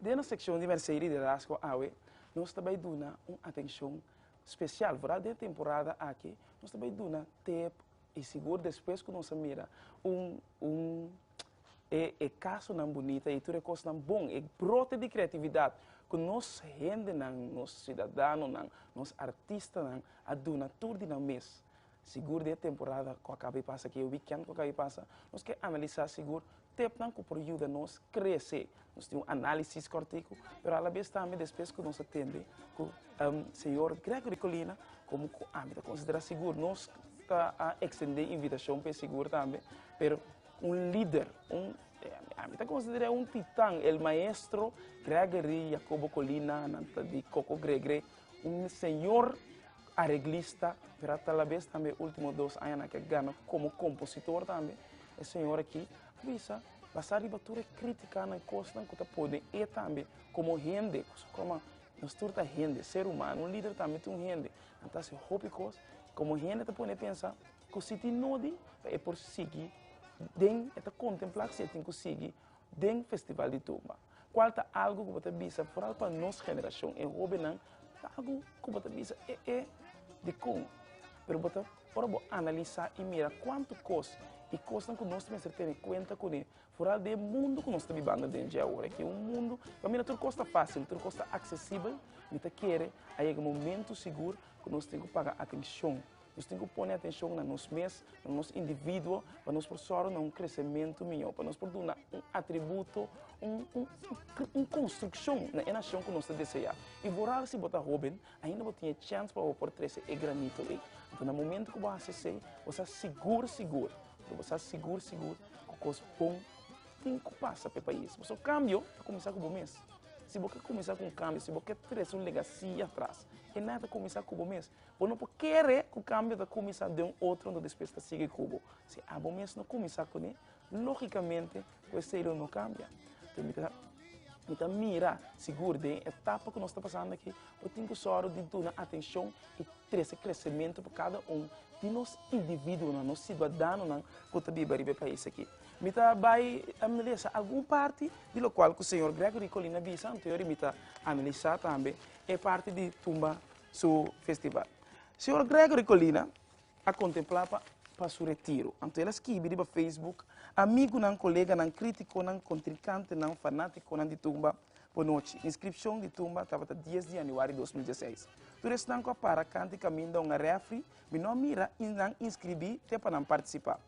Den nos sekshon di Mèrsei Liderazgo awe nos ta bai duna un atenshon spesial, vooral den e temporada aki nos ta bai duna tep i sigur despues ku nos a mira un un. e e kasonan bunita i tur e kosnan bon, e brote di kreatividat ku nos hendenan, nos sidadanonan, nos artistanan a duna tur di nan mes. Sigur di e temporada ku a kaba di pasa, ku e wikènt ku a kaba di pasa, nos ke analisá sigur tepnan ku por yuda nos krese Nos tin un análisis kòrtiku, pero alabes tambe despues ku nos a tende ku señor Gregory Colina komo ku ami ta konsiderá sigur. Nos ta ekstendé invitashon pa e sigur tambe, pero un lider, un, ami ta konsider'é un titan, el maestro Gregory Jacobo Colina, nan ta di Koko Gregre, un señor areglista, pero a ta alabes tambe último dos añanan ke a gana komo kompositor tambe. E señor aki a bisa Basa riba tur e kritikanan, e kosnan ku ta pone e tambe komo hende, ku su koma nos tur ta hende, ser humano, un lider tambe ta un hende, nan ta hasi hopi kos, i komo hende ta pone e pensa ku si tin nodi pa e por sigui den, e ta kontemplá si e tin ku sigui den Festival di Tumba. Cual ta algo cu bo ta bisa foral pa nos generacion e hobennan pagu cu bo ta bisa e e dicon pero bo ta ora bo analisa y mira cuanto cos y cosnan cu nos mester tene cuenta cune foral den e mundo cu nos ta bibando den dje ahora que un mundo pa mira tur cos ta facil tur cos ta accesibel mi ta kere a yega momento sigur cu nos tin cu paga atencion. Nos tin ku pone atenshon na nos mes, na nos individuo, pa nos por sòru na un kresementu mihó, pa nos por duna un atributo, un konstrukshon na e nashon ku nos ta deseá. I boral si bo ta hóben, ainda bo tin e chèns pa bo por trese e granito ei. Anto na momentu ku bo hasi esei, bo sa sigur sigur, bo sa sigur sigur ku kos bon tin ku pasa pa e pais. Pasobra kambio ta kuminsá ku bo mes. Si bo ke kuminsá ku un kambio, si bo ke trese un legasia atras, e nada ta kuminsá ku bo mes. Bo no por kere ku kambio ta kuminsá den un otro anto despues ta sigui ku bo. Si abo mes no kuminsá kuné, lógikamente ku esei lo no kambia. Te mi ta mi ta mira sigur den e etapa ku nos ta pasando aki bo tin ku sòru di duna atenshon i trese kresementu pa kada un di nos individuonan, nos siudadanonan ku ta biba riba e pais aki. Mi ta bai analisá algun parti di lokual ku señor Gregory Colina bisa, anto yori mi ta analisá tambe e parti di tumba su festival. Señor Gregory Colina a contempla pa pa su retiro, anto el a skibi riba Facebook, Amigunan, coleganan, criticonan, contrincantenan, fanaticonan di tumba, bonochi. Inscripcion di tumba tabata dies di januari dos mil diesseis. Tur esnan cu a para canta y caminda un a refri, mi no a mira y nan inscribi te pa nan participa.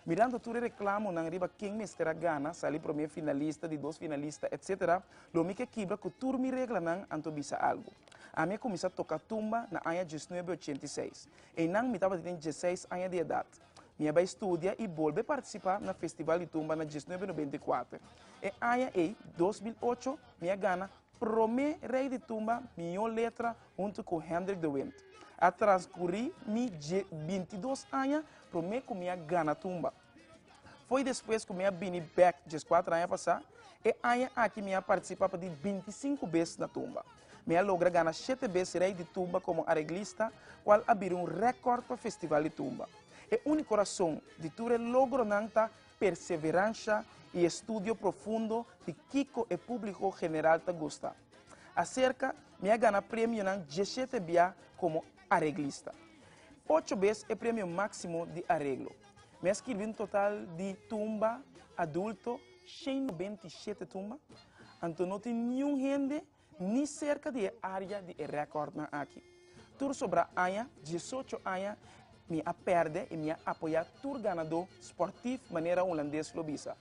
Mirando tur e reklamonan riba ken mester a gana, sali promé finalista, di dos finalista, etc. Lo mi ke kibra ku tur mi reglanan, anto bisa algu. Ami a kuminsá toka tumba na aña dies nuebe ochenta i seis. Einan mi tabata den dieseis aña di edat. Mi a bai studia i bolbe partisipá na festival di tumba na dies nuebe nobenta i kuater. E aña ei, dos mil ocho, mi a gana Prome rei di tumba Mihó Letra huntu ku Hendrik de Wint. A transkurí mi dje binti dos aña prome ku mi a gana tumba. Foi despues ku mi a bini bèk djes kuater aña pasá. E aña aki mi a partisipá pa di binti sinku bes na tumba. Mi a logra gana shete bes rei di tumba komo areglista, kual a bira un rèkòrt pa festival di tumba. E úniko rason di tur e logronan ta. perseveransha i e studio profundo di kiko e públiko general ta gusta. Aserka, mi a gana premionan dieshete bia komo areglista. Ocho bes e Premio Máksimo di Areglo. Mi a skirbi un total di tumba adulto, shen nobenta i shete tumba, anto no tin niun hende ni serka di e área di e rèkòrtnan aki. Tur sobra aña, diesocho aña, mi a pèrdè i mi a apoyá tur ganadó spòrtif, manera hulandes lo bisa.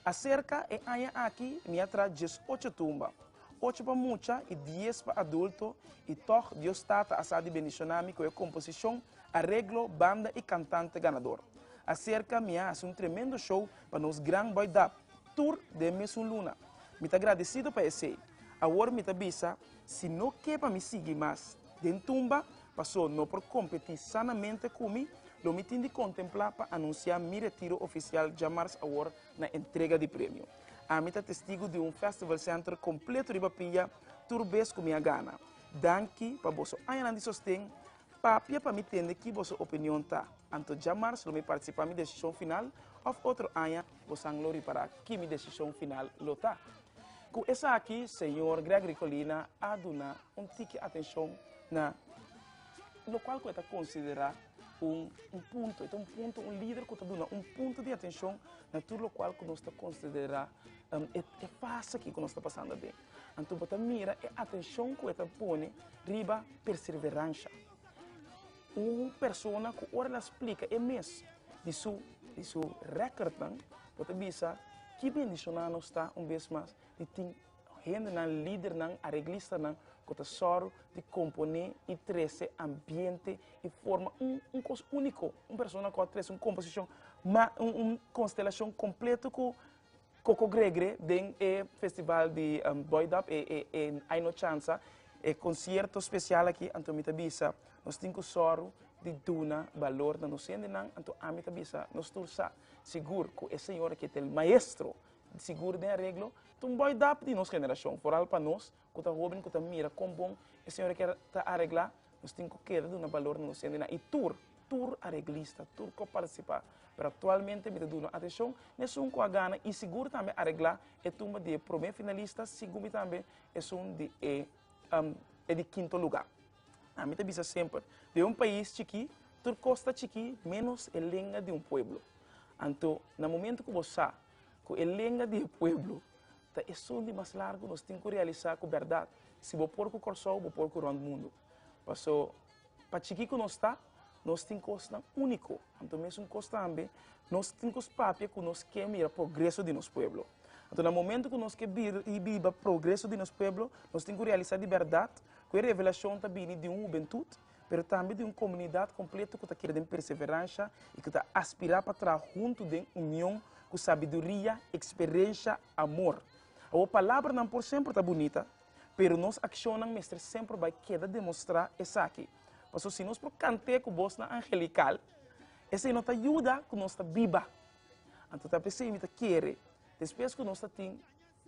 Aserka e aña aki mi a traha diesocho tumba, ocho pa mucha i dies pa adulto, i tòg Dios Tata a sa di bendishoná mi ku e komposishon, areglo, banda i kantante ganador. Aserka mi a hasi un tremendo show pa nos gran bòi Dap. Tur den e mesun luna. Mi ta gradesido pa esei. Awor mi ta bisa, Si no ke pa mi sigui mas den tumba, paso no por kompetí sanamente ku mi, lo mi tin di kontemplá pa anunsiá mi retiro ofisial djamars awor na entrega di premio. Ami ta testigu di un Festival Center kompleto riba pia tur bes ku mi a gana. Danki pa boso añanan di sosten. Papia pa mi tende ki boso opinion ta, anto djamars lo mi partisipá mi desishon final òf otro aña. Bosan lo ripará ki mi desishon final lo ta. Ku esaki señor Gregory Colina a duna un tiki atenshon na lokual ku e ta konsiderá un punto. E ta un punto, un lider ku ta duna un punto di atenshon na tur lokual ku nos ta konsiderá e fase aki ku nos ta pasando aden. Anto bo ta mira e atenshon ku e ta pone riba perseveransha. Un persona ku ora el a splika e mes di su di su rèkòrtnan, bo ta bisa ki bendishoná nos ta un bes mas di tin hendenan, lidernan, areglistanan ku ta sòru di komponé i trese ambiente i forma un un kos úniko, un persona ku a trese un komposishon ma un un konstelashon kompleto ku Coco Gregre den e festival di Boy Dub, e e Ai No Chansa, e concierto special aki, anto mi ta bisa nos tin cu soro di duna balor na nos hendenan, anto ami ta bisa nos tur sa sigur cu e señor aki ta el maestro sigur den areglo, tin un Boy Dub di nos generacion, foral pa nos, ku ta hoben ku ta mira kon bon e señor a kier ta areglá, nos tin ku keda duna balor na nos hendenan. I tur, tur areglista, tur ku a partisipá, pero aktualmente mi ta duna atenshon n'esun ku a gana i sigur tambe areglá e tumba di e promé finalista sigumi tambe esun di e e di kinto lugá. Ami ta bisa semper, den un pais chikí tur kos ta chikí ménos e lenga di un pueblo. Anto na momentu ku bo sa ku e lenga di e pueblo Ta esun di mas largu nos tin ku realisa ku bèrdat, si bo por ku Kòrsou, bo por ku rònt mundu. Paso, pa chikí ku nos ta, nos tin kosnan úniko. Anto mesun kos tambe, nos tin ku papia ku nos ke mira progreso di nos pueblo. Anto na momentu ku nos ke biba progreso di nos pueblo, nos tin ku realisa di bèrdat ku e revelashon ta bini di un hubentut pero tambe di un komunidat kompleto ku ta keda den perseveransha i ku ta aspirá pa traha huntu den union ku sabiduria, eksperensha, amor. Awo palabranan por semper ta bunita, pero nos akshonnan mester semper bai keda demostrá esaki. Paso si nos por kanté ku bosnan angelikal, esei no ta yuda ku nos ta biba. Anto ta p'esei mi ta kere, despues ku nos ta tin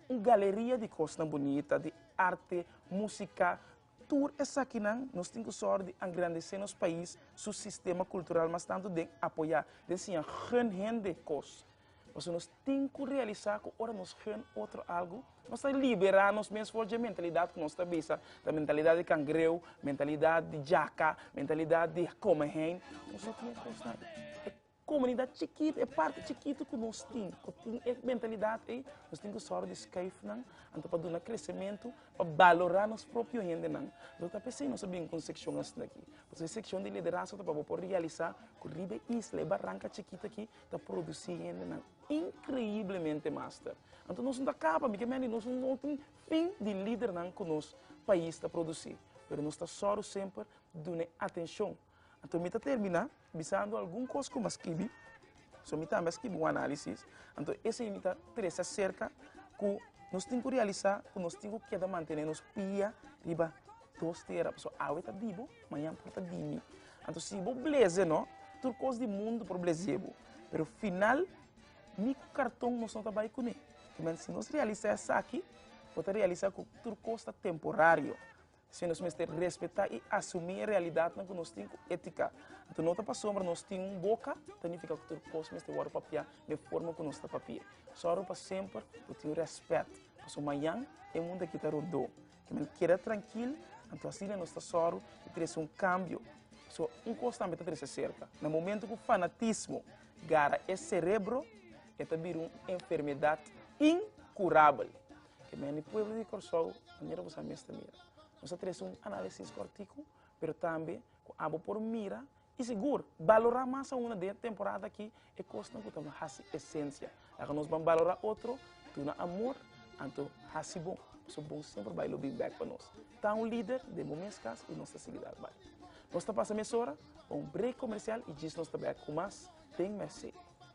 un galeria di kosnan bunita, di arte, músika, Tur esakinan nos tin ku sòrt di angrandesé nos pais su sistema kultural mas tantu den apoyá, den siña gun hende kos. Pasobra nos tin ku realisá ku ora nos gun otro algu, nos ta liberá nos mes for dje mentalidat ku nos ta bisa ta mentalidat di kangreu, mentalidat di jaka, mentalidat di kome hein. Nos no tin e kosnan. Komunidat chikitu, e parti chikitu ku nos tin, ku tin e mentalidat ei, nos tin ku sòru di skuifnan, anto pa duna kresementu, pa balorá nos propio hendenan. Lo ta p'esei nos a bin ku un sekshon asina akí. Pasobra e sekshon di liderazgo ta pa bo por realisá ku riba e isla, e baranka chikitu akí ta produsí hendenan inkreiblemente master. Anto nos no ta kaba, mi ke mende, nos no tin fin di lidernan ku nos pais ta produsí. Pero nos ta sòru semper duna e atenshon. Anto mi ta terminá bisando algun kos ku mi a skibi, so mi tambe a skibi un análisis. Anto esei mi ta trese aserka ku nos tin ku realisá ku nos tin ku keda mantené nos pia riba dos tera. Pasobra awe ta di bo, mañan por ta di mi. Anto si bo blez'e nò, tur kos di mundu por blez'é bo. Pero final, ni ku karton nos no ta bai kuné. P'e manera si nos realisá esaki, bo ta realisá ku tur kos ta temporario. Sin nos mester respetá i asumí e realidatnan ku nos tin ku étika. Anto no ta pasombra nos tin un boka ta nifiká ku tur kos mester wòrdu papiá den forma ku nos ta papi'é. Sòru pa semper bo tin rèspèt, pasobra mañan e mundu akí ta rodó. Ki manera? Keda trankil, anto asina nos ta sòru di trese un kambio. Pasobra un kos tambe ta trese serka, na momentu ku fanatismo gara e serebro, e ta bira un enfermedat inkurabel. Ke men di pueblo di Kòrsou, manera boso a mes ta mira. Nos a trese un análisis kòrtiku, pero tambe ku abo por mira i sigur balorá mas aunda den e temporada akí e kosnan ku ta nos hasi esensia. Laga nos ban balorá otro, duna amor, anto hasi bon, pasobra bon semper bai lo bin bèk pa nos. Ta un lider den bo mes kas i nos ta sigui dal bai. Nos ta pasa mesora pa un brek komersial i djis nos ta bèk ku mas den Mercé.